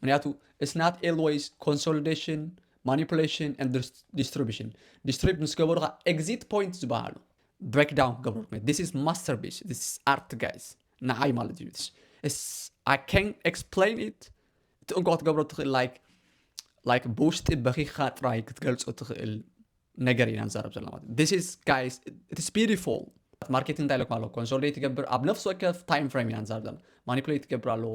ምክንያቱ ኢትስ ናት ኤልወይስ ኮንሶሊደሽን ማኒፑሌሽን ኤንድ ዲስትሪቡሽን ዲስትሪብ ምስ ገበሩካ ኤግዚት ፖይንት ዝበሃሉ ብሬክ ዳውን ክገብሩ ዲስ ኢዝ ማስተር ቢስ ዲስ ኣርት ጋይስ ንዓይ ማለት እዩ It's, I can't explain it እቲ እንኳ ክትገብሮ ትኽእል ላይክ ላይክ ብውሽጢ በኺኻ ጥራይ ክትገልፆ ትኽእል ነገር ኢና ንዛረብ ዘለና ማለት ዲስ ኢዝ ጋይስ ኢትስ ቢዩቲፉል ማርኬቲንግ እንታይ ኢለኩም ኣለዎ ኮንሶሊዴት ይገብር ኣብ ነፍሲ ወከፍ ታይም ፍሬም ኢና ንዛረብ ዘለና ማኒፕሌት ይገብር ኣለዎ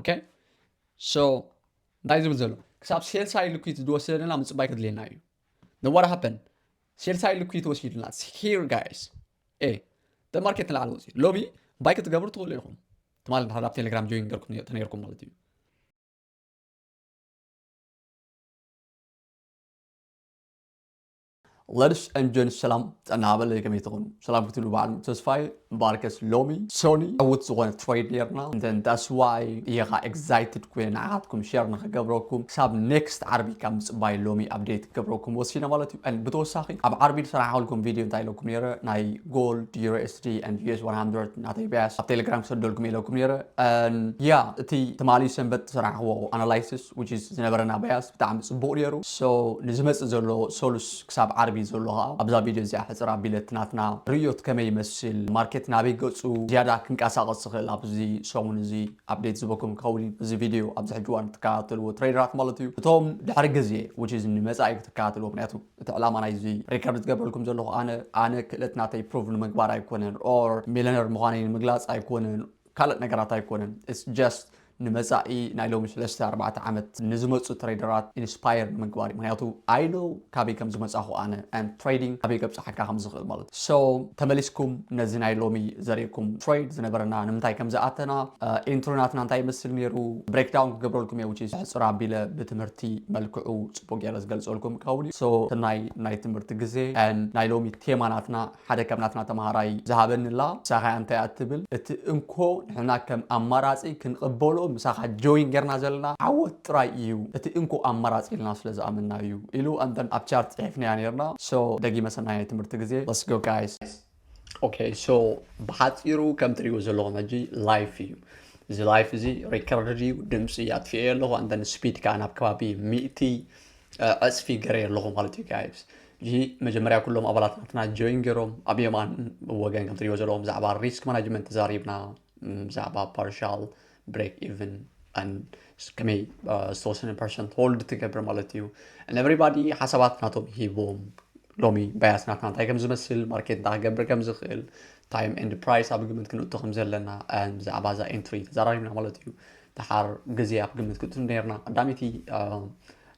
ኦኬ ሶ እንታይ ዝብል ዘሎ ክሳብ ሴልሳይ ልኩት ዝወሰደና ምፅባይ ክድልየና እዩ ነዋር ሃፐን ሴልሳይ ልኩት ወሲድና ሂር ጋይስ ኤ ደማርኬት ንላዕሊ ወፂ ሎቢ ባይ ክትገብሩ ትኽእሉ ኢኹም ትማል ድሓር ኣብ ቴሌግራም ጆይን ገርኩም ተነይርኩም ማለት እዩ ለድስ ን ጀንስ ሰላም ጥዕና ሃበለይ ከመይ ትኹኑ ሰላም ክትብሉ በዓል ተስፋይ ባርከስ ሎሚ ሶኒ ዕውት ዝኾነ ትሬድ ነርና እንተን ዳስዋይ እየኻ ኤግዛይትድ ኮይነ ንዓኻትኩም ሸር ንክገብረኩም ክሳብ ኔክስት ዓርቢ ካብ ምፅባይ ሎሚ ኣብዴት ክገብረኩም ወሲነ ማለት እዩ ን ብተወሳኺ ኣብ ዓርቢ ዝሰራሕልኩም ቪድዮ እንታይ ኢለኩም ነረ ናይ ጎልድ ዩሮስዲ ን ዩስ 100 ናተይ ቢያስ ኣብ ቴሌግራም ክሰደልኩም ኢለኩም ነረ ን ያ እቲ ትማሊ ሰንበት ዝሰራሕዎ ኣናላይስስ which is ዝነበረና ባያስ ብጣዕሚ ጽቡቕ ኔሩ so ንዝመጽእ ዘሎ ሰሉስ ክሳብ ዓርቢ ዘሎ ከኣ ኣብዛ ቪድዮ እዚኣ ሕጽር ኣቢለ እቲ ናትና ርእዮት ከመይ ይመስል ማርኬት ናበይ ገጹ ዝያዳ ክንቀሳቐስ ዝኽእል ኣብዚ ሰሙን እዚ update ዝህበኩም ክኸውን እዩ እዚ ቪድዮ ኣብዚ ሕጂ እዋን እትከታተልዎ ትሬደራት ማለት እዩ እቶም ድሕሪ ግዜ which is ንመጻኢ ክትከታተልዎ ምክንያቱ እቲ ዕላማ ናይዚ ሪከርድ ዝገብረልኩም ዘለኹ ኣነ ኣነ ክእለት ናተይ ፕሩቭ ንምግባር ኣይኮነን or ሚለነር ምዃነይ ንምግላጽ ኣይኮነን ካልእ ነገራት ኣይኮነን ኢትስ ጀስት ንመጻኢ ናይ ሎሚ ስለስተ ኣርባዕተ ዓመት ንዝመጹ ትሬደራት ኢንስፓየር ንምግባር እዩ ምክንያቱ ኣይ ኖው ካበይ ከም ዝመጻኹ ኣነ ኣንድ ትሬዲንግ ካበይ ከብጽሓካ ከም ዝኽእል ማለት እዩ ሶ ተመሊስኩም ነዚ ናይ ሎሚ ዘሪእኩም ትሬድ ዝነበረና ንምንታይ ከም ዝኣተና ኢንትሮ ናትና እንታይ ይመስል ነይሩ ብሬክ ዳውን ክገብረልኩም እየ ውጪ ሕጽር ኣቢለ ብትምህርቲ መልክዑ ጽቡቅ ገይረ ዝገልጸልኩም ክኸውን እዩ ሶ ሰናይ ናይ ትምህርቲ ግዜ ኣንድ ናይ ሎሚ ቴማ ናትና ሓደ ከም ናትና ተማሃራይ ዝሃበኒ'ላ ምሳኻ እያ እንታይ ኣትብል እቲ እንኮ ንሕና ከም ኣማራጺ ክንቕበሎ ምሳኻ ጆይን ጌርና ዘለና ዓወት ጥራይ እዩ እቲ እንኮ ኣማራጺ ኢልና ስለ ዝኣመንና እዩ ኢሉ and then ኣብ ቻርት ጽሒፍናያ ኔርና so ደጊመ ሰናይ ትምህርቲ ግዜ let's go guys። ኦኬ ሶ ብሓጺሩ ከም ትሪእዎ ዘለኹም ሕጂ ላይፍ እዩ እዚ ላይፍ እዚ ሪከርድ እዩ ድምጺ ኣጥፊኤዮ ኣለኹ ኣንደን ስፒድ ከኣ ናብ ከባቢ ሚእቲ ዕጽፊ ገሬ ኣለኹ ማለት እዩ ጋይስ እዚ መጀመርያ ኩሎም ኣባላት ናትና ጆይን ገይሮም ኣብ የማን ወገን ከም ትሪእዎ ዘለዎም ብዛዕባ ሪስክ ማናጅመንት ተዛሪብና ብዛዕባ ፓርሻል ብሬክ ኢቨን ከመይ ዝተወሰነ ፐርሰንት ሆልድ ትገብር ማለት እዩ ንኤቨሪባዲ ሓሳባት ናቶም ሂቦም ሎሚ ባያስ ናትና እንታይ ከም ዝመስል ማርኬት እንታይ ክገብር ከም ዝኽእል ታይም ኤንድ ፕራይስ ኣብ ግምት ክንእቶ ከም ዘለና ብዛዕባ እዛ ኤንትሪ ተዛራሪብና ማለት እዩ ደሓር ግዜ ኣብ ግምት ክትእቱ ነርና ቀዳመይቲ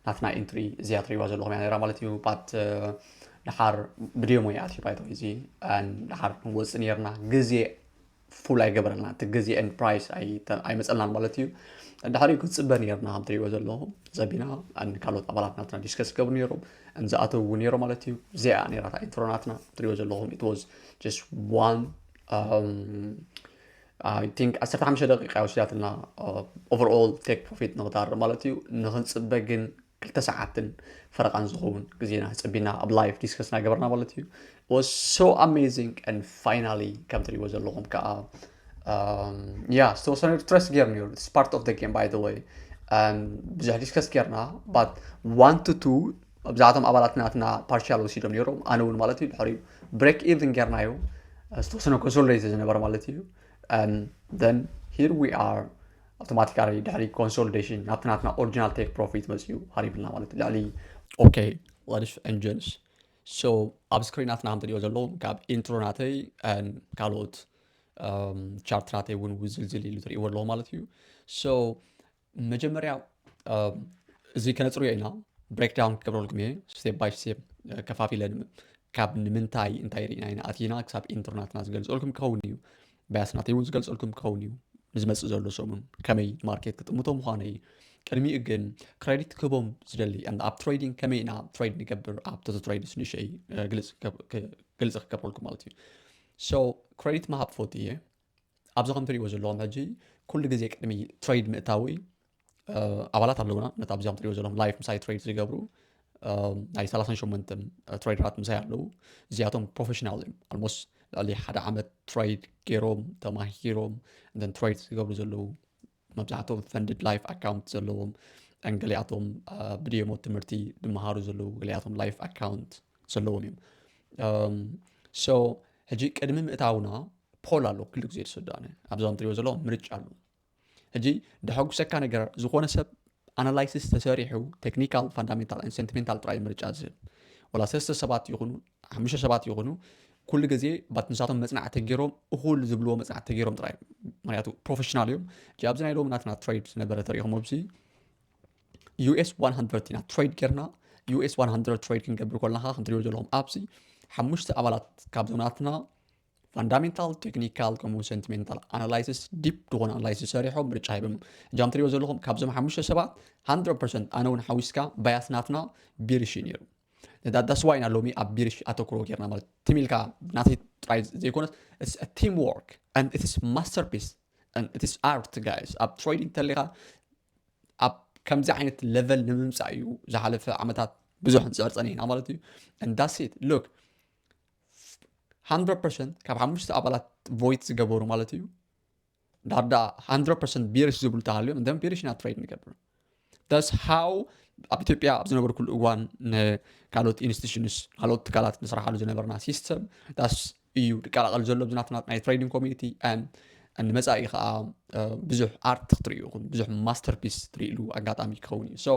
ናትና ኢንትሪ እዚኣ ትሪእዋ ዘለኹም እያ ነራ ማለት እዩ ባት ደሓር ብደሞ ይኣትዩ ባይቶ እዚ ደሓር ክንወፅእ ነርና ግዜ ፉል ኣይገበረልና እቲ ግዜ ኤንድ ፕራይስ ኣይመፀልናን ማለት እዩ ድሕሪኡ ክንፅበ ነርና ከም ትሪእዎ ዘለኹም ዘቢና ካልኦት ኣባላት ናትና ዲስከስ ገብሩ ነይሮም እንዝኣተውዎ ነይሮም ማለት እዩ እዚኣ ነራ ኢንትሮ ናትና ትሪእዎ ዘለኹም ኢት ዋዝ ጀስት ዋን ኣይ ቲንክ ዓሰርተ ሓሙሽተ ደቂቃ እያ ወሲዳትልና ኦቨር ኦል ቴክ ፕሮፊት ንክተርእ ማለት እዩ ንክንፅበ ግን ክልተ ሰዓትን ፈረቃን ዝኸውን ግዜና ፀቢና ኣብ ላይፍ ዲስከስ ናገበርና ማለት እዩ was so amazing and finally ከም ትሪእዎ ዘለኹም ከዓ ያ ዝተወሰነ ትረስ ጌር ነይሩ ስ ፓርት ኦፍ ጌም ባይ ወይ ብዙሕ ዲስከስ ጌርና ባት ዋን ቱ ቱ ኣብዛኣቶም ኣባላት ናትና ፓርሻል ወሲዶም ነይሮም ኣነ እውን ማለት እዩ ድሕሪኡ ብሬክ ኢቭን ጌርናዮ ዝተወሰነ ኮንሶልደይ ዝነበረ ማለት እዩ ን ሂር ዊ ኣር ኣውቶማቲካሊ ድሕሪ ኮንሶልዴሽን ናብቲ ናትና ኦሪጂናል ቴክ ፕሮፊት መፅኡ ሃሪብልና ማለት ልዕሊ ኦኬ ሌዲስ ን ጀንስ ሶ ኣብ ስክሪናትና ከም ትሪኦ ዘለዉ ካብ ኢንትሮ ናተይ ን ካልኦት ቻርት ናተይ እውን ውዝልዝል ኢሉ ትሪእዎ ኣለዎ ማለት እዩ ሶ መጀመርያ እዚ ከነፅርዮ ኢና ብሬክ ዳውን ክገብረልኩም እየ ስቴፕ ባይ ስቴፕ ከፋፊለ ካብ ንምንታይ እንታይ ርኢና ኢና ኣቲና ክሳብ ኢንትርናትና ዝገልፀልኩም ክኸውን እዩ ባያስናተይ እውን ዝገልፀልኩም ክኸውን እዩ ንዝመፅእ ዘሎ ሰሙን ከመይ ማርኬት ክጥምቶ ምዃነ እዩ ቅድሚኡ ግን ክሬዲት ክህቦም ዝደሊ ኣብ ትሬዲንግ ከመይ ኢና ትሬድ ንገብር ኣብ ተቶ ትሬድስ ንሸይ ግልፂ ክገብረልኩም ማለት እዩ ሶ ክሬዲት ምሃብ ፈት እየ ኣብዚ ከም ትሪእዎ ዘለኹም ሕጂ ኩሉ ግዜ ቅድሚ ትሬድ ምእታወይ ኣባላት ኣለውና ነቲ ኣብዚ ከም ትሪእዎ ዘለኹም ላይፍ ምሳይ ትሬድ ዝገብሩ ናይ 38 ትሬደራት ምሳይ ኣለዉ እዚኣቶም ፕሮፌሽናል እዮም ኣልሞስ ልዕሊ ሓደ ዓመት ትሬድ ገይሮም ተማሂሮም እን ትሬድ ዝገብሩ ዘለዉ መብዛሕቶም ፈንድድ ላይፍ ኣካውንት ዘለዎም ገሊኣቶም ብድየሞ ትምህርቲ ድመሃሩ ዘለዉ ገሊኣቶም ላይፍ ኣካውንት ዘለዎም እዮም ሶ ሕጂ ቅድሚ ምእታውና ፖል ኣሎ ክሉ ግዜ ዝስዳነ ኣብዞም ትሪኦ ዘለዎ ምርጫ ኣሎ ሕጂ ደሐጉሰካ ነገር ዝኾነ ሰብ ኣናላይሲስ ተሰሪሑ ቴክኒካል ፋንዳሜንታል ን ሴንቲሜንታል ጥራይ ምርጫ ዝህብ ወላ ሰስተ ሰባት ይኹኑ ሓሙሽተ ሰባት ይኹኑ ኩሉ ግዜ ባት ንሳቶም መፅናዕቲ ተገይሮም እኹል ዝብልዎ መፅናዕቲ ተገይሮም ጥራይ ምክንያቱ ፕሮፌሽናል እዮም ጂ ኣብዚ ናይ ሎሚ ናትና ትሬድ ዝነበረ ተሪኢኹም ኣብዚ ዩኤስ 100 ኢና ትሬድ ጌርና ዩኤስ 100 ትሬድ ክንገብር ከለካ ክንትሪዮ ዘለኹም ኣብዚ ሓሙሽተ ኣባላት ካብዞም ናትና ፋንዳሜንታል ቴክኒካል ከምኡ ሰንቲሜንታል ኣናላይሲስ ዲፕ ዝኾነ ኣናላይሲስ ሰሪሖም ምርጫ ሂቦም እጃም ትሪዮ ዘለኹም ካብዞም ሓሙሽተ ሰባት 100 ኣነ እውን ሓዊስካ ባያስ ናትና ቢርሽ ነይሩ ዳስዋ ኢና ሎሚ ኣብ ቢሪሽ ኣተኩሮ ጌርና ማለት ቲም ኢልካ ናተይ ጥራይ ዘይኮነስ ቲም ወርክ ኢትስ ማስተርፒስ ኢትስ ኣርት ጋይስ ኣብ ትሬዲንግ ተሊኻ ኣብ ከምዚ ዓይነት ለቨል ንምምፃእ እዩ ዝሓለፈ ዓመታት ብዙሕ ንፅዕር ፀኒሕና ማለት እዩ እንዳሴት ሎክ 100 ካብ ሓሙሽተ ኣባላት ቮይት ዝገበሩ ማለት እዩ ዳር ዳኣ ሃንድረድ ፐርሰንት ቢርሽ ዝብሉ እንተሃልዮም እንተም ቢርሽ ኢና ትሬድ ንገብር ዳስ ሃው ኣብ ኢትዮጵያ ኣብ ዝነበርኩሉ እዋን ንካልኦት ኢንስቲቱሽንስ ካልኦት ትካላት ንስራሓሉ ዝነበርና ሲስተም ዳስ እዩ ዝቀላቐል ዘሎ ብዝናትና ናይ ትሬዲንግ ኮሚኒቲ ንመፃኢ ከዓ ብዙሕ ኣርት ክትሪኡ ይኹን ብዙሕ ማስተርፒስ ትሪእሉ ኣጋጣሚ ክኸውን እዩ ሶ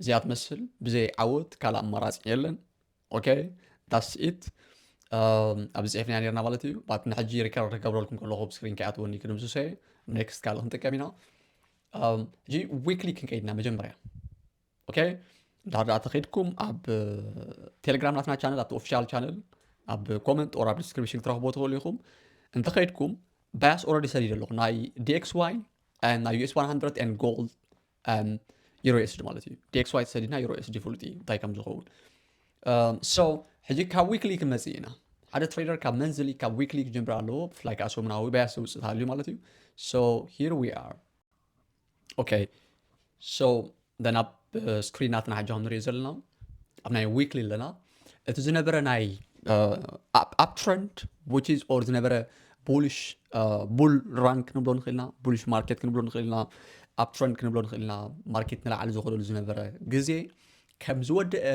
እዚኣ ትመስል ብዘይ ዓወት ካልእ ኣማራፂ የለን ኦኬ ዳስ ኢት ኣብ ዝፅሒፍና ነርና ማለት እዩ ባት ንሕጂ ሪከርድ ክገብረልኩም ከለኹ ኣብ ስክሪን ከይኣትወኒ ክንምስሶ እየ ኔክስት ካልእ ክንጥቀም ኢና ሕጂ ዊክሊ ክንቀይድና መጀመርያ ኦኬ እንድሕር ድኣ ተኸይድኩም ኣብ ቴሌግራም ናትና ቻነል ኣብቲ ኦፊሻል ቻነል ኣብ ኮመንት ኦር ኣብ ዲስክሪፕሽን ክትረኽቦ ትኽእሉ ኢኹም እንተኸይድኩም ባያስ ኦረዲ ሰዲደ ኣለኹ ናይ ዲኤክስ ዋይ ናይ ዩኤስ 100 ን ጎልድ ዩሮ ኤስዲ ማለት እዩ ዲክስ ዋይ ተሰዲድና ዩሮ ኤስዲ ፍሉጥ እዩ እንታይ ከም ዝኸውን ሶ ሕጂ ካብ ዊክሊ ክንመፅእ ኢና ሓደ ትሬደር ካብ መንዝሊ ካብ ዊክሊ ክጀምር ኣለዎ ብፍላይ ከዓ ሰሙናዊ በያ ሰውፅእ ሃልዩ ማለት እዩ ሶ ሂር ዊ ኣር ኦኬ ሶ ደን ኣብ ስክሪናትና ሕጂ ክንሪኦ ዘለና ኣብ ናይ ዊክሊ ኣለና እቲ ዝነበረ ናይ ኣብ ትረንድ ዊችዝ ኦር ዝነበረ ቡልሽ ቡል ራን ክንብሎ ንኽእል ኢና ቡልሽ ማርኬት ክንብሎ ንኽእል ኢና ኣብ ትረንድ ክንብሎ ንኽእል ኢና ማርኬት ንላዕሊ ዝኸደሉ ዝነበረ ግዜ ከም ዝወደአ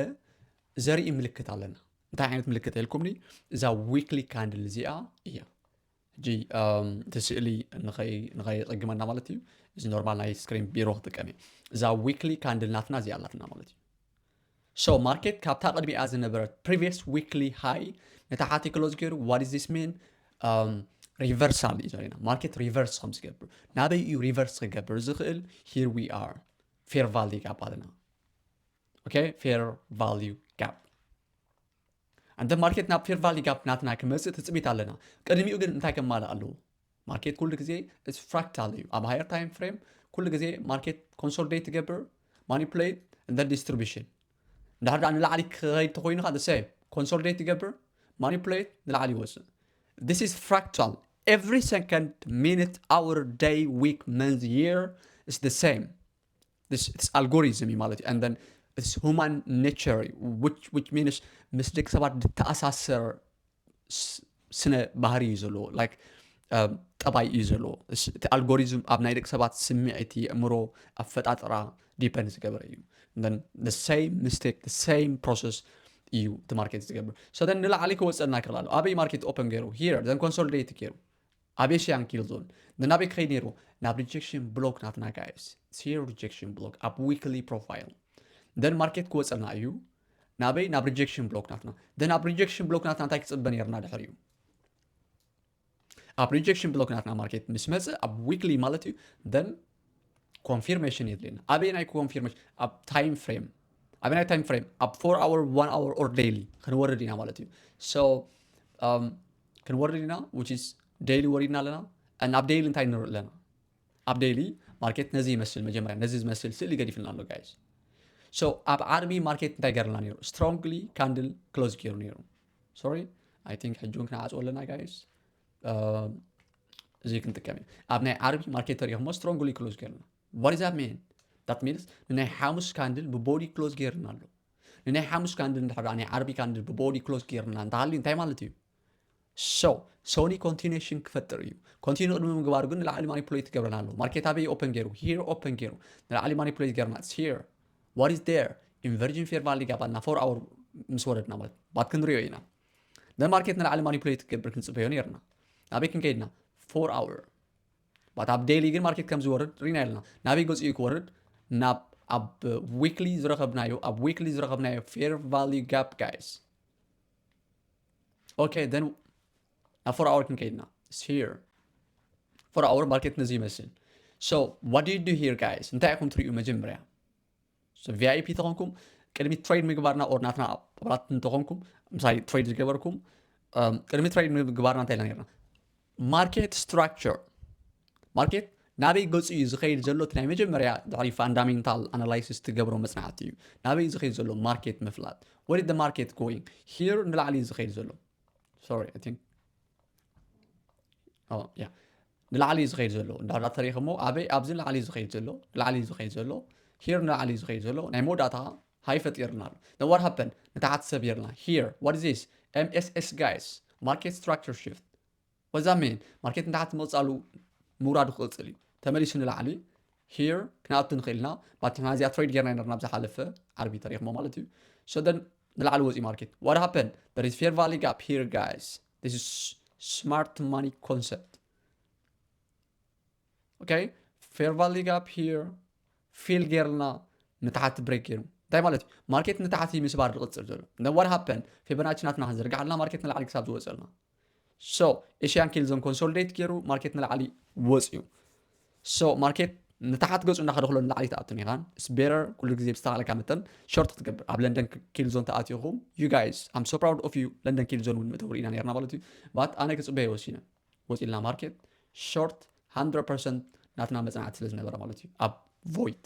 ዘርኢ ምልክት ኣለና እንታይ ዓይነት ምልክት ኢልኩምኒ እዛ ዊክሊ ካንድል እዚኣ እያ ሕጂ እቲ ስእሊ ንኸይቕግመና ማለት እዩ እዚ ኖርማል ናይ ስክሪን ቢሮ ክጥቀም እዩ እዛ ዊክሊ ካንድል ናትና እዚኣ ኣላትና ማለት እዩ ሶ ማርኬት ካብታ ቅድሚኣ ዝነበረት ፕሪቪየስ ዊክሊ ሃይ ነታ ሓቲ ክሎዝ ገይሩ ዋት ኢዝ ዚስ ሚን ሪቨርሳል እዩ ዘሪና ማርኬት ሪቨርስ ከም ዝገብር ናበይ እዩ ሪቨርስ ክገብር ዝኽእል ሂር ዊ ኣር ፌር ቫልዩ ጋፕ ኣለና ኦኬ ፌር ቫልዩ ጋፕ ኣንተ ማርኬት ናብ ፌር ቫሊ ጋፕ ናትና ክመጽእ ትጽቢት ኣለና ቅድሚኡ ግን እንታይ ከማልእ ኣለዎ ማርኬት ኩሉ ግዜ እስ ፍራክታል እዩ ኣብ ሃየር ታይም ፍሬም ኩሉ ግዜ ማርኬት ኮንሶልዴት ትገብር ማኒፕሌት እንደ ዲስትሪቢሽን እንድሕር ደኣ ንላዕሊ ክኸይድ ተኮይኑ ከ ሰ ኮንሶልዴት ይገብር ማኒፕሌት ንላዕሊ ይወፅእ this is fractal every second minute hour day week month year is the same ኣልጎሪዝም እዩ ማለት እዩ ሁማን ኔቸር ዊች ሚንስ ምስ ደቂ ሰባት ዝተኣሳሰር ስ- ስነ ባህሪ እዩ ዘለዎ ላይክ ጠባይ እዩ ዘለዎ እስ- እቲ ኣልጎሪዝም ኣብ ናይ ደቂ ሰባት ስምዒት የእምሮ ኣፈጣጥራ ዲፐንድ ዝገበረ እዩ ሰም ሚስቴክ ሰም ፕሮሰስ እዩ እቲ ማርኬት ዝገብር ሰደን ንላዕሊ ክወፀና ይክእል ኣሎ ኣበይ ማርኬት ኦፕን ገይሩ ሂር ዘን ኮንሶሊዴት ገይሩ ኣቤ ሸያንክ እዩ ሉል ግን ኣበይ ክኸይድ ነይሩ ናብ ሪጀክሽን ብሎክ ናትና ጋይስ ሴር ሪጀክሽን ብሎክ ኣብ ዊክሊ ፕሮፋይል ደን ማርኬት ክወፀና እዩ ናበይ ናብ ሪጀክሽን ብሎክ ናትና ደን ኣብ ሪጀክሽን ብሎክ ናትና እንታይ ክፅበ ነርና ድሕር እዩ ኣብ ሪጀክሽን ብሎክ ናትና ማርኬት ምስ መፀ ኣብ ዊክሊ ማለት እዩ ደን ኮንፊርሜሽን የድልየና ኣበየናይ ኮንፊርሜሽን ኣብ ታይም ፍሬም ኣበናይ ታይም ፍሬም ኣብ ፎር ኣወር ዋን ኣወር ኦር ዴይሊ ክንወርድ ኢና ማለት እዩ ሶ um, ክንወርድ ኢና ዊች ኢዝ ዴይሊ ወሪድና ኣለና እና ኣብ ዴይሊ እንታይ ንርኢ ኣለና ኣብ ዴይሊ ማርኬት ነዚ ይመስል መጀመርያ ነዚ ዝመስል ስእሊ ገዲፍልና ኣሎ ጋይዝ ሶ ኣብ ዓርቢ ማርኬት እንታይ ገርልና ነይሩ ስትሮንግሊ ካንድል ክሎዝ ገይሩ ነይሩ ሶሪ ኣይ ቲንክ ሕጂ እውን ክንዓፅዎ ኣለና ጋይዝ እዚ ክንጥቀም እዩ ኣብ ናይ ዓርቢ ማርኬት ተሪኢኹሞ ስትሮንግሊ ክሎዝ ገርና ዋት ዛት ሚን ዳት ሚንስ ንናይ ሓሙስ ካንድል ብቦዲ ክሎዝ ገርና ኣሎ ንናይ ሓሙስ ካንድል እንድሕር ናይ ዓርቢ ካንድል ብቦዲ ክሎዝ ገርና እንተሃልዩ እንታይ ማለት እዩ ሶ ሶኒ ኮንቲኒሽን ክፈጥር እዩ ኮንቲኒ ቅድሚ ምግባር ግን ንላዕሊ ማኒፕሌት ገርና ኣሎ ማርኬት ኣበይ ኦፐን ገይሩ ሂር ኦፐን ገይሩ ንላዕሊ ማኒፕሌት ገርና ሂር ዋት ኢዝ ዴር ኢንቨርጅን ፌር ቫሊ ጋባልና ፎር ኣወር ምስ ወረድና ማለት ባት ክንሪኦ ኢና ንማርኬት ንላዕሊ ማኒፕሌት ክገብር ክንፅበዮ ነርና ናበይ ክንከይድና ፎር ኣውር ባት ኣብ ዴይሊ ግን ማርኬት ከም ዝወርድ ሪና ኣለና ናበይ ገፂኡ ክወርድ ናብ ኣብ ዊክሊ ዝረኸብናዮ ኣብ ዊክሊ ዝረኸብናዮ ፌር ቫሉ ጋፕ ጋይስ ኦኬ ደን ናብ ፎር ኣወር ክንከይድና ስር ፎር ኣወር ማርኬት ነዚ ይመስል ሶ ዋት ዩ ዱ ሂር ጋይስ እንታይ ኢኹም ትሪኡ መጀመርያ ቪኣይፒ ተኾንኩም ቅድሚ ትሬድ ምግባርና ኦር ናትና ኣባላት እንተኾንኩም ምሳሌ ትሬድ ዝገበርኩም ቅድሚ ትሬድ ምግባርና እንታይ ኢልና ነርና ማርኬት ስትራክቸር ማርኬት ናበይ ገፁ እዩ ዝኸይድ ዘሎ እቲ ናይ መጀመርያ ድሕሪ ፋንዳሜንታል ኣናላይሲስ ትገብሮ መፅናዕቲ እዩ ናበይ ዝኸይድ ዘሎ ማርኬት ምፍላጥ ወደ ደ ማርኬት ጎይን ሂር ንላዕሊ ዝኸይድ ዘሎ ሶሪ ንላዕሊ እዩ ዝኸይድ ዘሎ እንዳ ተሪኽ እሞ ኣበይ ኣብዚ ንላዕሊ እዩ ዝኸይድ ዘሎ ንላዕሊ እዩ ዝኸይድ ዘሎ ሂር ንላዕሊ እዩ ዝኸይድ ዘሎ ናይ መወዳእታ ሃይ ፈጢርና ኣሎ ን ዋት ሃፐን ንታሕቲ ሰቢርና ሂር ዋት ኢዝ ዚስ ኤምኤስኤስ ጋይስ ማርኬት ስትራክቸር ሽፍት ወዛ ሜን ማርኬት ንታሕቲ መውፃሉ ምውራዱ ክቕፅል እዩ ተመሊሱ ንላዕሊ ሂር ክንኣቱ ንኽእል ኢና ባቲ ሕና እዚኣ ትሬድ ጌርና ነርና ብዝሓለፈ ዓርቢ ተሪኽሞ ማለት እዩ ሶደን ንላዕሊ ወፂኡ ማርኬት ዋት ሃፐን ር ፌር ቫሊ ጋፕ ሂር ጋይስ This is smart money concept. Okay, fair value gap here. ፊል ጌርና ንታሕቲ ብሬክ ገይሩ እንታይ ማለት እዩ ማርኬት ንታሕቲ ምስባር ዝቕፅል ዘሎ ነዋር ሃፐን ፌበናቺ ናትና ክንዝርግሕ ኣለና ማርኬት ንላዕሊ ክሳብ ዝወፅልና ሶ ኤሽያን ኬልዞን ኮንሶሊዴት ገይሩ ማርኬት ንላዕሊ ወፅዩ So market ንታሓት ገጹ እንዳኸደክሎ ንላዕሊ ትኣቱ ኒኻ it's better ኩሉ ግዜ ብዝተኻለካ መጠን ሾርት ክትገብር ኣብ ለንደን ኪል ዞን ተኣቲኹም you guys I'm so proud of you ለንደን ኪል ዞን እውን መእተዊ ኢና ነርና ማለት እዩ ባት ኣነ ክጽበየ ወሲነ ወጺልና ማርኬት ሾርት 100% ናትና መጽናዕቲ ስለ ዝነበረ ማለት እዩ ኣብ ቮይት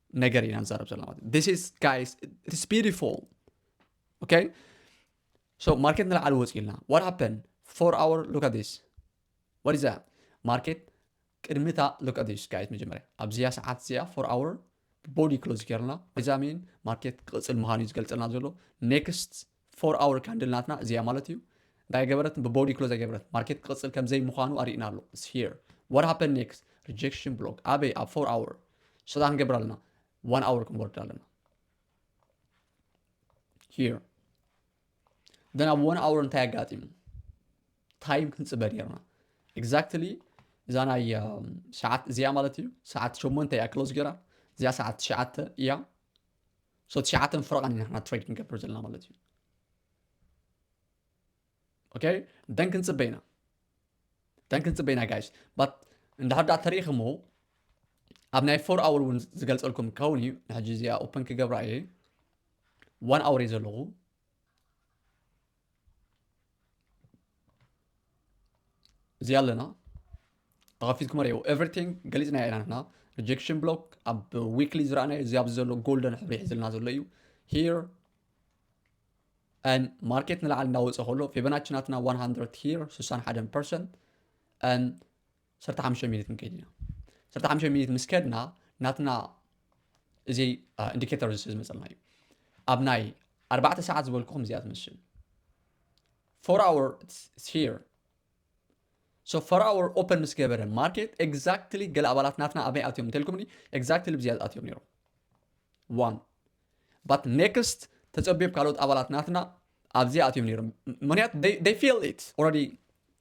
ነገር ኢና ንዛረብ ዘለና ማለት እዩ ስ ጋይስ ኢትስ ቢዩቲፉል ኦኬ ሶ ማርኬት ንላዕሊ ወፂኡ ኢልና ዋት ሃፐን ፎር ኣወር ሉክ ኣት ዲስ ዋት ኢዝ ዛት ማርኬት ቅድሚታ ሉክ ኣት ዲስ ጋይስ መጀመርያ ኣብዚያ ሰዓት እዚኣ ፎር ኣወር ቦዲ ክሎዝ ገርና እዛ ሚን ማርኬት ክቕፅል ምዃኑ እዩ ዝገልፀልና ዘሎ ኔክስት ፎር ኣወር ካንድል ናትና እዚያ ማለት እዩ እንታይ ገበረት ብቦዲ ክሎዝ ኣይገበረት ማርኬት ክቕፅል ከምዘይ ምዃኑ ኣርእና ኣሎ ስ ሄር ዋት ሃፐን ኔክስት ሪጀክሽን ብሎክ ኣበይ ኣብ ፎር ኣወር ሰታ ክንገብር ኣለና ዋን ኣወር ክንወርድ ኣለና ሄር ደን ኣብ ዋን ኣወር እንታይ ኣጋጢሙ ታይም ክንፅበ ኔርና ኤግዛክትሊ እዛ ናይ ሰዓት እዚኣ ማለት እዩ ሰዓት ሸሞንተ እያ ክሎዝ ገራ እዚኣ ሰዓት ትሽዓተ እያ ሶ ትሽዓተን ፍረቓን ኢና ንሕና ትሬድ ክንገብር ዘለና ማለት እዩ ኦኬ ደን ክንፅበ ኢና ደን ክንፅበ ኢና ጋይስ ባት እንድሕር ዳኣ ተሪኢኹሞ ኣብ ናይ ፎር ኣወር እውን ዝገልፀልኩም ክኸውን እዩ ንሕጂ እዚኣ ኦፐን ክገብራ እየ ዋን ኣወር እዩ ዘለኹ እዚ ኣለና ተኸፊትኩም ሪኦ ኤቨሪቲንግ ገሊፅናዮ ኢና ንሕና ሪጀክሽን ብሎክ ኣብ ዊክሊ ዝረኣናዮ እዚ ኣብዚ ዘሎ ጎልደን ሕብሪ ሒዝልና ዘሎ እዩ ሂር ን ማርኬት ንላዕሊ እንዳወፀ ከሎ ፌበናችናትና 100 ሂር 61 ፐርሰንት ዓሰርተ ሓሙሽተ ሚኒት ክንከይድ ኢና ዓሰርተ ሓሙሽተ ሚኒት ምስ ከድና ናትና እዚ ኢንዲኬተር እዚ ዝመፀልና እዩ ኣብ ናይ ኣርባዕተ ሰዓት ዝበልኩኹም እዚኣ ትመስል ፎር ኣወር ሂር ሶ ፎር ኣወር ኦፐን ምስ ገበረ ማርኬት ኤግዛክትሊ ገለ ኣባላት ናትና ኣበይ ኣትዮም እንተልኩምኒ ኤግዛክትሊ ብዚያ ኣትዮም ነይሮም ዋን ባት ኔክስት ተፀቢብ ካልኦት ኣባላት ናትና ኣብዚኣ ኣትዮም ነይሮም ምክንያቱ ፊል ኢት ኦረዲ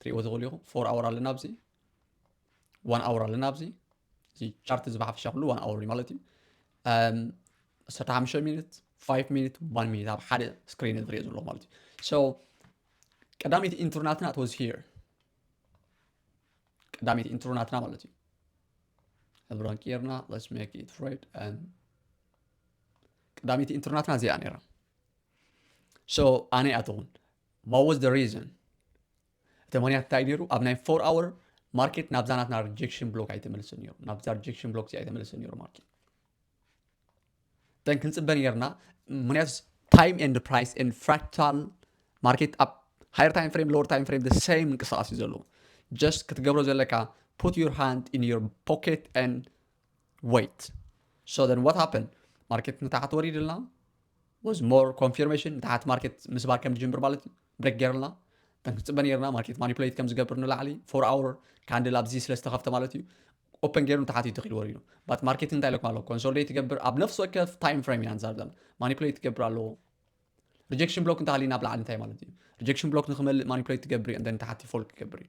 ትሪእዎ ትኽእሉ ኢኹም ፎር ኣወር ኣለና ኣብዚ ዋን ኣወር ኣለና ኣብዚ እዚ ቻርት እዚ ብሓፈሻ ኩሉ ዋን ኣወር ማለት እዩ ዓሰርተ ሓሙሽተ ሚኒት ፋይቭ ሚኒት ዋን ሚኒት ኣብ ሓደ ስክሪን ዝሪኦ ዘለዎ ማለት እዩ ሶ ቀዳመይቲ ኢንትሮናትና ትወዝ ሂር ቀዳመይቲ ኢንትሮናትና ማለት እዩ ሕብራን ጌርና ለስ ሜክ ኢት ሬድ ቀዳመይቲ ኢንትሮናትና እዚኣ ነይራ ሶ ኣነ ኣትኹን What was the reason? እቲ ምክንያት እንታይ ነይሩ? ኣብ ናይ ፎር ኣወር ማርኬት ናብዛ ናትና ሪጀክሽን ብሎክ ኣይተመልስን ነይሩ ናብዛ ሪጀክሽን ብሎክ እዚ ኣይተመልስን ነይሩ ማርኬት ተን ክንፅበ ነርና ምክንያቱ ታይም ኤንድ ፕራይስ ኤንድ ፍራክታል ማርኬት ኣብ ሃየር ታይም ፍሬም ሎወር ታይም ፍሬም ሰይም ምንቅስቃስ እዩ ዘለዎ ጀስት ክትገብሮ ዘለካ ፑት ዩር ሃንድ ኢን ዩር ፖኬት ን ወይት ሶ ዘን ዋት ሃፐን ማርኬት ንታሕት ወሪድልና ወዝ ሞር ኮንፊርሜሽን ንታሕት ማርኬት ምስባር ከም ዝጅምር ማለት እዩ ብሬክ ገይርልና ከም ክንፅበ ነርና ማርኬት ማኒፕሌት ከም ዝገብር ንላዕሊ ፎር ኣወር ካንድል ኣብዚ ስለ ዝተኸፍተ ማለት እዩ ኦፐን ገይሩ ንታሕት እዩ ተኺሉ ወሪዱ ባት ማርኬት እንታይ ኢለኩም ኣለዎ ኮንሶሊዴት ይገብር ኣብ ነፍሲ ወከፍ ታይም ፍሬም ኢና ንዛርብ ዘለና ማኒፕሌት ይገብር ኣለዎ ሪጀክሽን ብሎክ እንተሃሊና ኣብ ላዕሊ እንታይ ማለት እዩ ሪጀክሽን ብሎክ ንክመልእ ማኒፕሌት ትገብር እዩ እንተ ንታሕቲ ፎልክ ይገብር እዩ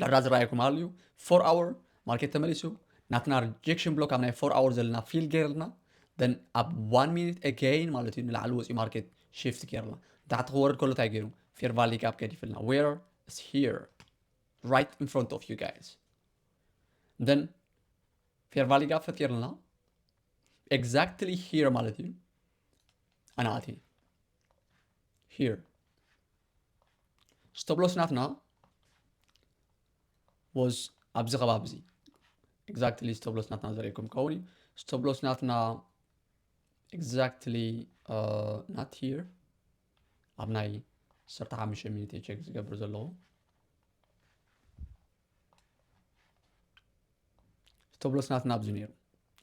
ዳርዳ ዝረኣየኩም ኣልዩ ፎር ኣወር ማርኬት ተመሊሱ ናትና ሪጀክሽን ብሎክ ኣብ ናይ ፎር ኣወር ዘለና ፊል ገይርልና ደን ኣብ ዋን ሚኒት ኤገይን ማለት እዩ ንላዕሊ ወፂኡ ማርኬት ሽፍት ገይርና ንታሕቲ ክወርድ ከሎ እንታይ ገይሩ ፌር ቫሊ ጋፕ ገዲፍልና ዌር ስ ሂር ራይት ኢን ፍሮንት ኦፍ ዩ ጋይስ ደን ፌር ቫሊ ጋፕ ፈጢርልና ኤግዛክትሊ ሂር ማለት እዩ ኣናኣቲ ሂር ስተብሎስ ናትና ወዝ ኣብዚ ከባቢ እዚ ኤግዛክትሊ ስተብሎስ ናትና ዘርእኩም ከውን እዩ ስተብሎስ ናትና ኤግዛክትሊ ናት ሂር ኣብ ናይ ሰርተ ሓሙሽተ ሚኒት ቸክ ዝገብር ዘለዎ ስተብሎስ ናትና ኣብዚ ነይሩ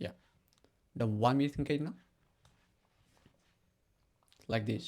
ያ ደም ዋን ሚኒት ክንከይድና ላይክ ዲስ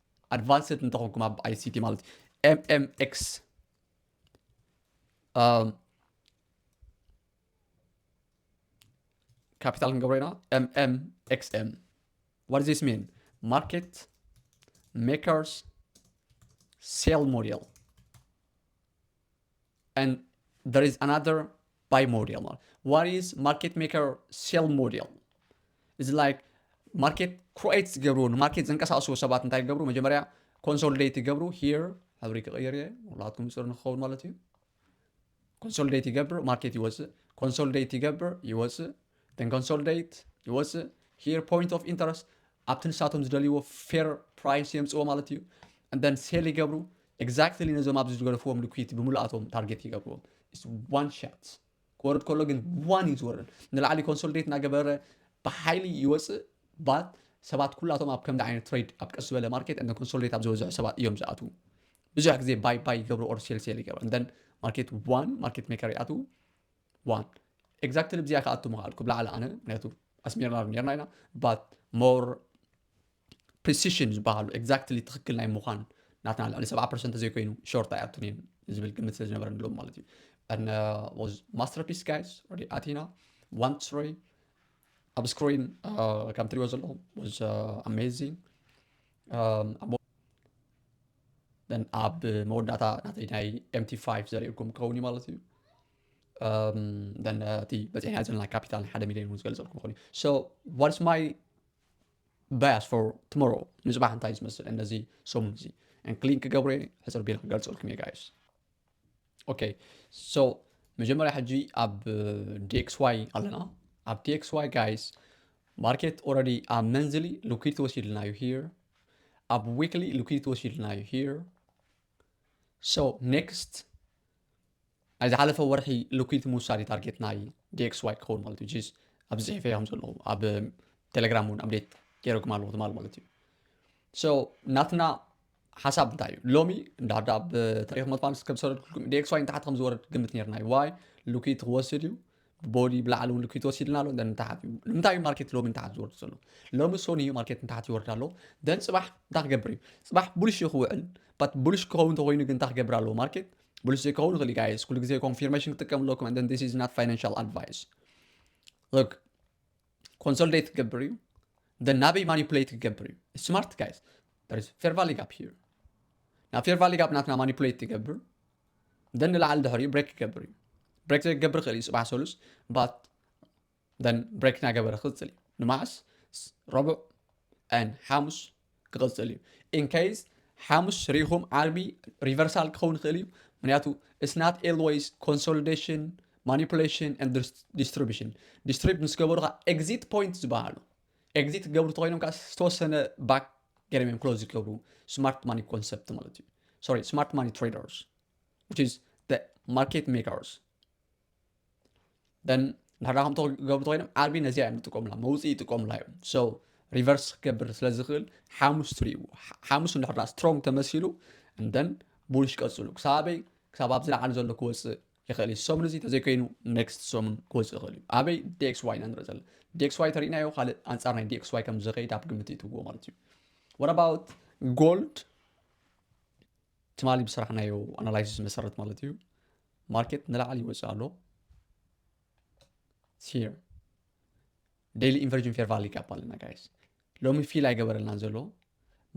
ኣድቫንስድ እንተኾንኩም ኣብ ኣይሲቲ ማለት ኤምኤምኤክስ ካፒታል ክንገብሮ ኢና ኤምኤምኤክስኤም ዋት ዚስ ሚን ማርኬት ሜከርስ ሴል ሞዴል and there is another buy model. What is market maker sell model? It's like ማርኬት ክሮኤት ዝገብሩ ንማርኬት ዘንቀሳቅሱ ሰባት እንታይ ይገብሩ መጀመርያ ኮንሶልዴት ይገብሩ ሂር ሕብሪ ክቕይር እየ ሁላትኩም ፅር ንክኸውን ማለት እዩ ኮንሶልዴት ይገብር ማርኬት ይወፅእ ኮንሶልዴት ይገብር ይወፅእ then consolidate ይወፅእ here point of interest ኣብቲ ንሳቶም ዝደልይዎ fair price የምፅዎ ማለት እዩ and then sell ይገብሩ exactly ነዞም ኣብዚ ዝገደፍዎም liquidity ብምልኣቶም ታርጌት ይገብርዎም it's one shot ክወርድ ከሎ ግን ዋን እዩ ዝወርድ ንላዕሊ ኮንሶሊዴት እናገበረ ብሓይሊ ይወፅእ ባት ሰባት ኩላቶም ኣብ ከምዚ ዓይነት ትሬድ ኣብ ቀስ ዝበለ ማርኬት እንደ ኮንሶሊዴት ኣብ ዝበዝሑ ሰባት እዮም ዝኣትዉ ብዙሕ ግዜ ባይ ባይ ይገብሩ ኦር ሴል ሴል ይገብሩ እንደን ማርኬት ዋን ማርኬት ሜከር ይኣትዉ ዋን ኤግዛክትሊ ብዚኣ ክኣቱ ምኽኣልኩ ብላዕሊ ኣነ ምክንያቱ ኣስሚርና ዶ ነርና ኢና ባት ሞር ፕሪሲሽን ዝበሃሉ ኤግዛክትሊ ትኽክል ናይ ምዃን ናትና ልዕሊ ሰብዓ ፐርሰንት ዘይኮይኑ ሾርት ኣይኣቱን እየን ዝብል ግምት ስለ ዝነበረ ንሎም ማለት እዩ and uh, was masterpiece guys or the Athena one story ኣብ ስክሪን ከም ትሪኦ ዘለኹም was uh, amazing um, ኣብ መወዳእታ ናተይ ናይ ኤምቲ 5 ዘርእኩም ክኸውን እዩ ማለት እዩ እቲ በፂሕና ዘለና ካፒታል ሓደ ሚሊዮን እውን ዝገልፀልኩም ይኽእል እዩ ሶ ዋትስ ማይ ባያስ ፎር ትሞሮ ንፅባሕ እንታይ ዝመስል እነዚ ሰሙን እዚ እንክሊን ክገብረ ሕፅር ቢል ክገልፀልኩም እየ ጋይስ ኦኬ ሶ መጀመሪያ ሕጂ ኣብ ዲኤክስ ዋይ ኣለና ኣብ ዲኤክስ ዋይ ጋይስ ማርኬት ኦረዲ ኣብ መንዝሊ ሉኪድ ተወሲድልና እዩ ሂር ኣብ ዊክሊ ሉኪድ ተወሲድልና እዩ ሂር ሶ ኔክስት ናይ ዝሓለፈ ወርሒ ልኩይቲ ምውሳድ እዩ ታርጌት ናይ ዲኤክስዋይ ክኸውን ማለት እዩ ጂስ ኣብዚ ፅሒፈ እዮም ዘለዉ ኣብ ቴሌግራም እውን ኣብዴት ገይረኩም ኣለኹ ትማል ማለት እዩ ሶ ናትና ሓሳብ እንታይ እዩ ሎሚ እንዳዳ ኣብ ታሪክ መጥፋ ምስ ከም ሰረድኩልኩም ዲኤክስዋይ ንታሕቲ ከም ዝወርድ ግምት ነርና እዩ ዋይ ልኩይቲ ክወስድ እዩ ቦኒ ብላዕሊ እውን ልኪት ወሲድና ኣሎ ደን ንታሓት እዩ ንምንታይ እዩ ማርኬት ሎሚ ንታሓት ዝወርድ ዘሎ ሎሚ ሶኒ እዩ ማርኬት ንታሓት ይወርድ ኣሎ ደን ፅባሕ እንታይ ክገብር እዩ ፅባሕ ቡልሽ እዩ ክውዕል ባት ቡልሽ ክኸውን ተኮይኑ ግን እንታይ ክገብር ኣለዎ ማርኬት ቡልሽ ዘይከውን ይኽእል ጋይስ ኩሉ ግዜ ኮንፊርሜሽን ክጥቀም ኣለኩም and then this is not financial advice look ኮንሶልዴት ክገብር እዩ ደን ናበይ ማኒፕሌት ክገብር እዩ ስማርት ጋይስ there is fair value gap here ናብ ፌር ቫሊ ጋፕ ናትና ማኒፕሌት ትገብር ደን ንላዕሊ ድሕሪኡ ብሬክ ክገብር እዩ ብሬክ ዘይገብር ክእል እዩ ፅባሕ ሰሉስ ባት ደን ብሬክ ናገበረ ክቅፅል እዩ ንማዕስ ረቡዕ ን ሓሙስ ክቅፅል እዩ ኢንከይዝ ሓሙስ ሪኢኹም ዓርቢ ሪቨርሳል ክኸውን ይኽእል እዩ ምክንያቱ ስናት ኤልወይስ ኮንሶሊዴሽን ማኒፕሌሽን ዲስትሪቢሽን ዲስትሪብ ምስ ገበሩካ ኤግዚት ፖይንት ዝበሃሉ ኤግዚት ክገብሩ ተኮይኖም ከዓ ዝተወሰነ ባክ ገይሮም እዮም ክሎዝ ዝገብሩ ስማርት ማኒ ኮንሰፕት ማለት እዩ ሶሪ ስማርት ማኒ ትሬደርስ which is the market makers then ንሕና ከምቶ ክገብሩ ተኮይኖም ዓርቢ ነዚኣ እዮም ዝጥቀሙላ መውፅኢ ይጥቀሙላ እዮም ሶ ሪቨርስ ክገብር ስለ ዝኽእል ሓሙስ ትርእይዎ ሓሙስ እንድሕር ስትሮንግ ተመሲሉ እንደን ቡልሽ ቀፅሉ ክሳበይ ክሳብ ኣብ ዝለዓለ ዘሎ ክወፅእ ይኽእል እዩ ሰሙን እዚ ተዘይኮይኑ ኔክስት ሰሙን ክወፅእ ይኽእል እዩ ኣበይ ዲኤክስዋይ ኢና ንርኢ ዘለና ዲኤክስዋይ ተሪእናዮ ካልእ ኣንፃር ናይ ዲኤክስዋይ ከም ዝኸይድ ኣብ ግምት ይትዎ ማለት እዩ ወረባውት ጎልድ ትማሊ ብስራሕናዮ ኣናላይሲስ መሰረት ማለት እዩ ማርኬት ንላዕሊ ይወፅእ ኣሎ ሲር ዴይሊ ኢንቨርጅ ኢንፌርቫል ይጋባ ኣለና ጋይስ ሎሚ ፊል ኣይገበረልናን ዘሎ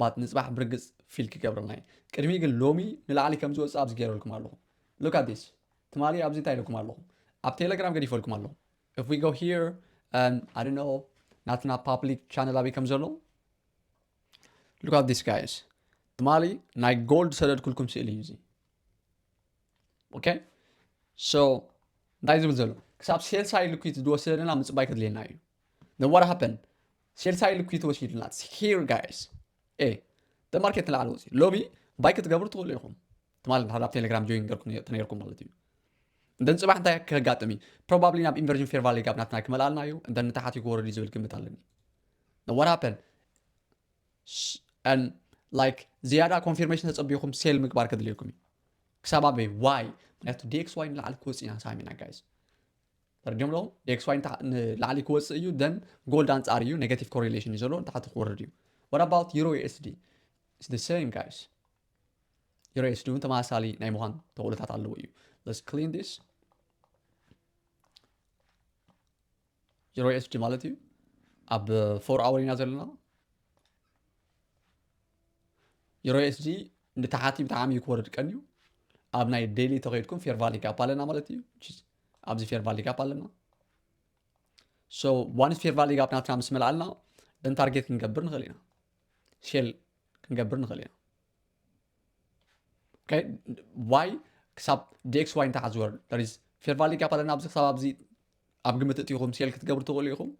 ባት ንፅባሕ ብርግፅ ፊል ክገብረልና እዩ ቅድሚ ግን ሎሚ ንላዕሊ ከም ዝወፅእ ኣብዚ ገይረልኩም ኣለኹ ሉክ ኣት ዲስ ትማሊ ኣብዚ እንታይ ኢለኩም ኣለኹ ኣብ ቴሌግራም ገዲፈልኩም ኣለኹ if we go here and i don't know ናትና ፓብሊክ ቻነል ኣበይ ከም ዘሎ ሉክ ኣት ዲስ ጋይስ ትማሊ ናይ ጎልድ ሰደድኩልኩም ስእሊ እዩ እዚ ኦኬ ሶ እንታይ ዝብል ዘሎ ክሳብ ሴልሳይ ልኩት ዝወሰደና ምፅባይ ከድልየና እዩ ነዋር ሃፐን ሴልሳይ ልኩት ወሲድና ሂር ጋይስ ኤ ተማርኬት ንላዕሊ ወፂ ሎቢ ባይ ክትገብሩ ትኽእሉ ኢኹም ትማል እንድሕር ኣብ ቴሌግራም ጆይን ገርኩም ተነይርኩም ማለት እዩ እንደን ፅባሕ እንታይ ከጋጥም እዩ ፕሮባብሊ ናብ ኢንቨርዥን ፌር ቫሊ ጋብ ናትና ክመልኣልና እዩ እንደን ንታሓት ክወርድ እዩ ዝብል ግምት ኣለኒ ነዋር ሃፐን ላይክ ዝያዳ ኮንፊርሜሽን ተጸቢኹም ሴል ምግባር ከድልየኩም እዩ ክሳብ ኣበይ ዋይ ምክንያቱ ዲኤክስ ዋይ ንላዕሊ ክወፅእ ኢና ሳሚና ጋይዝ ፈርዲዮም ኣለኹም ዲኤክስ ዋይ ንላዕሊ ክወፅእ እዩ ደን ጎልድ ኣንጻር እዩ ኔጋቲቭ ኮሪሌሽን እዩ ዘለዎ ንታሕቲ ክወርድ እዩ ወት ኣባውት ዩሮ ዩኤስዲ ኢስ ደ ሰም ጋይስ ዩሮ ዩኤስዲ እውን ተመሳሳሊ ናይ ምዃን ተኽእሎታት ኣለዎ እዩ ለስ ክሊን ዲስ ዜሮ ኤስፒ ማለት እዩ ኣብ ፎር ኣወር ኢና ዘለና ዜሮ ኤስፒ ንታሓቲ ብጣዕሚ እዩ ክወርድ ቀንዩ ኣብ ናይ ዴይሊ ተኸይድኩም ፌር ቫሊ ጋፕ ኣለና ማለት እዩ ኣብዚ ፌር ቫሊ ጋፕ ኣለና ሶ ዋንስ ፌር ቫሊ ጋፕ ናትና ምስ መልኣልና ደን ታርጌት ክንገብር ንኽእል ኢና ሴል ክንገብር ንኽእል ኢና ዋይ ክሳብ ዲኤክስ ዋይ እንታይ ዝበሉ ፌር ቫሊ ጋፕ ኣለና ኣብዚ ክሳብ ኣብዚ ኣብ ግምት እትኹም ሴል ክትገብሩ ትኽእሉ ኢኹም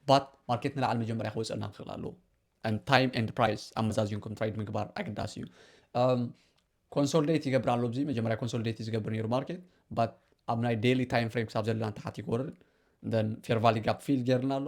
ባት ማርኬት ንላዕሊ መጀመርያ ክወፅአና ክኽእል ኣለዎ ታይም ኤንድ ፕራይስ ኣመዛዚንኩም ትራይድ ምግባር ኣገዳሲ እዩ ኮንሶልዴት um, ይገብር ኣሎ እዚ መጀመርያ ኮንሶልዴት ዝገብር ነይሩ ማርኬት ባት ኣብ ናይ ዴይሊ ታይም ፍሬም ክሳብ ዘለና ተሓት ይክወርድ ን ፌር ቫሊ ጋፕ ፊል ገይርና ኣሎ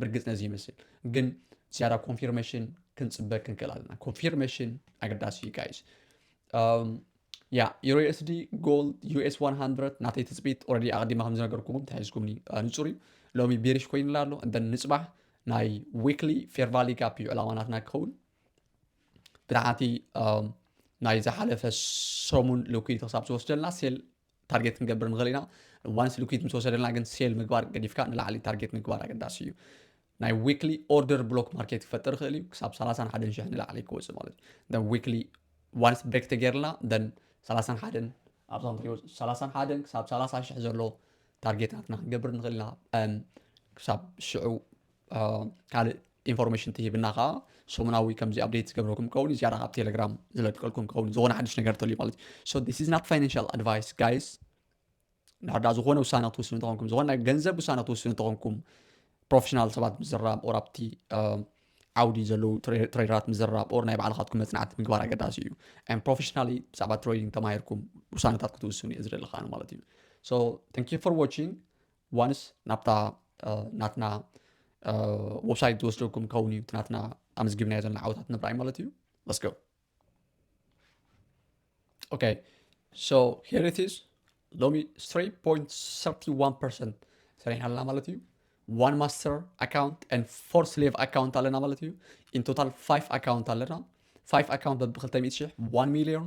ብርግጽ ነዚ ይመስል ግን ዝያዳ ኮንፊርሜሽን ክንፅበ ክንክእል ኣለና ኮንፊርሜሽን ኣገዳሲ እዩ ጋይስ ያ ዩሮ ኤስዲ ጎልድ ዩኤስ 100 ናተይ ትፅቢት ኦረዲ ኣቐዲማ ከም ዝነገርኩዎም ተሒዝኩምኒ ንፁር እዩ ሎሚ ቤሪሽ ኮይኑላ ኣሎ እንተ ንፅባሕ ናይ ዊክሊ ፌር ቫሊ ጋፕ እዩ ዕላማናትና ክኸውን ብታሕቲ ናይ ዝሓለፈ ሰሙን ልኩይቲ ክሳብ ዝወስደልና ሴል ታርጌት ክንገብር ንኽእል ኢና ዋንስ ሊኩዊድ ምስ ወሰደልና ግን ሴል ምግባር ገዲፍካ ንላዕሊ ታርጌት ምግባር ኣገዳሲ እዩ ናይ ዊክሊ ኦርደር ብሎክ ማርኬት ክፈጥር ይኽእል እዩ ክሳብ 31 ሽሕ ንላዕሊ ክወፅእ ማለት እዩ ዊክሊ ዋንስ ብሬክ ተገይርልና ደን 31 ኣብዞም ትሪኦ 31 ክሳብ 30 ሽሕ ዘሎ ታርጌት ናትና ክንገብር ንኽእል ኢና ክሳብ ሽዑ ካልእ ኢንፎርሜሽን ትሂብና ከዓ ሰሙናዊ ከምዚ ኣብዴት ዝገብረኩም ከውን ዝያዳ ካብ ቴሌግራም ዝለቀልኩም ከውን ዝኾነ ሓድሽ ነገር ተልዩ ማለት እዩ ሶ ዲስ ኢዝ ናት ፋይናንሽል ኣድቫይስ ጋይስ እንድሕር ዳ ዝኾነ ውሳነ ክትውስኑ እንተኾንኩም ዝኾነ ናይ ገንዘብ ውሳነ ክትውስኑ እንተኾንኩም ፕሮፌሽናል ሰባት ምዝራብ ኦር ኣብቲ ዓውዲ ዘለዉ ትሬደራት ምዝራብ ኦር ናይ ባዕልኻትኩም መፅናዕቲ ምግባር ኣገዳሲ እዩ ን ፕሮፌሽናሊ ብዛዕባ ትሬዲንግ ተማሂርኩም ውሳነታት ክትውስኑ እየ ዝደለኻ ማለት እዩ ሶ ታንክ ዩ ፎር ዋቺንግ ዋንስ ናብታ ናትና ወብሳይት ዝወስደኩም ከውን እዩ ናትና ኣመዝጊብናዮ ዘለና ዓወታት ንብራይ ማለት እዩ ለስገ ኦኬ ሶ ሄር ኢት ኢዝ ሎሚ 3.31 ፐርሰንት ሰሪሕና ኣለና ማለት እዩ ዋን ማስተር ኣካውንት ን ፎር ስሌቭ ኣካውንት ኣለና ማለት እዩ ኢን ቶታል ፋይቭ ኣካውንት ኣለና ፋይቭ ኣካውንት በቢ 200 ሽሕ ዋን ሚሊዮን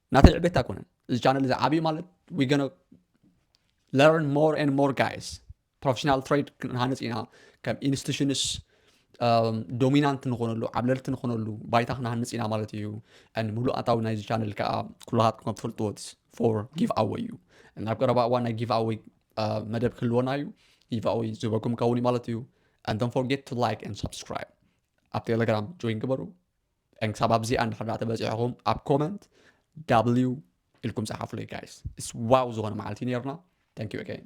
ናተይ ዕቤት ኣይኮነን እዚ ቻነል እዚ ዓብዩ ማለት ዊ ገነ ለርን ሞር ኤን ሞር ጋይስ ፕሮፌሽናል ትሬድ ክንሃንፅ ኢና ከም ኢንስቲቱሽንስ ዶሚናንት ንኾነሉ ዓብለልቲ ንኾነሉ ባይታ ክንሃንፅ ኢና ማለት እዩ ምሉእ ኣታዊ ናይዚ ቻነል ከዓ ኩላሃትኩም ከም ትፈልጥዎ ፎር ጊቭ ኣወይ እዩ ናብ ቀረባ እዋን ናይ ጊቭ ኣወይ መደብ ክህልወና እዩ ጊቭ ኣወይ ዝበኩም ከውን እዩ ማለት እዩ and don't forget to like and subscribe ኣብ ቴሌግራም ጆይን ግበሩ ክሳብ ኣብዚኣ እንድሕር ዳኣ ተበጺሕኹም ኣብ ኮመንት ዳብሊው ኢልኩም ጸሓፉለይ ጋይስ። እስ ዋው ዝኾነ መዓልቲ እዩ ነይርና። ታንክ ዩ ኣገይን።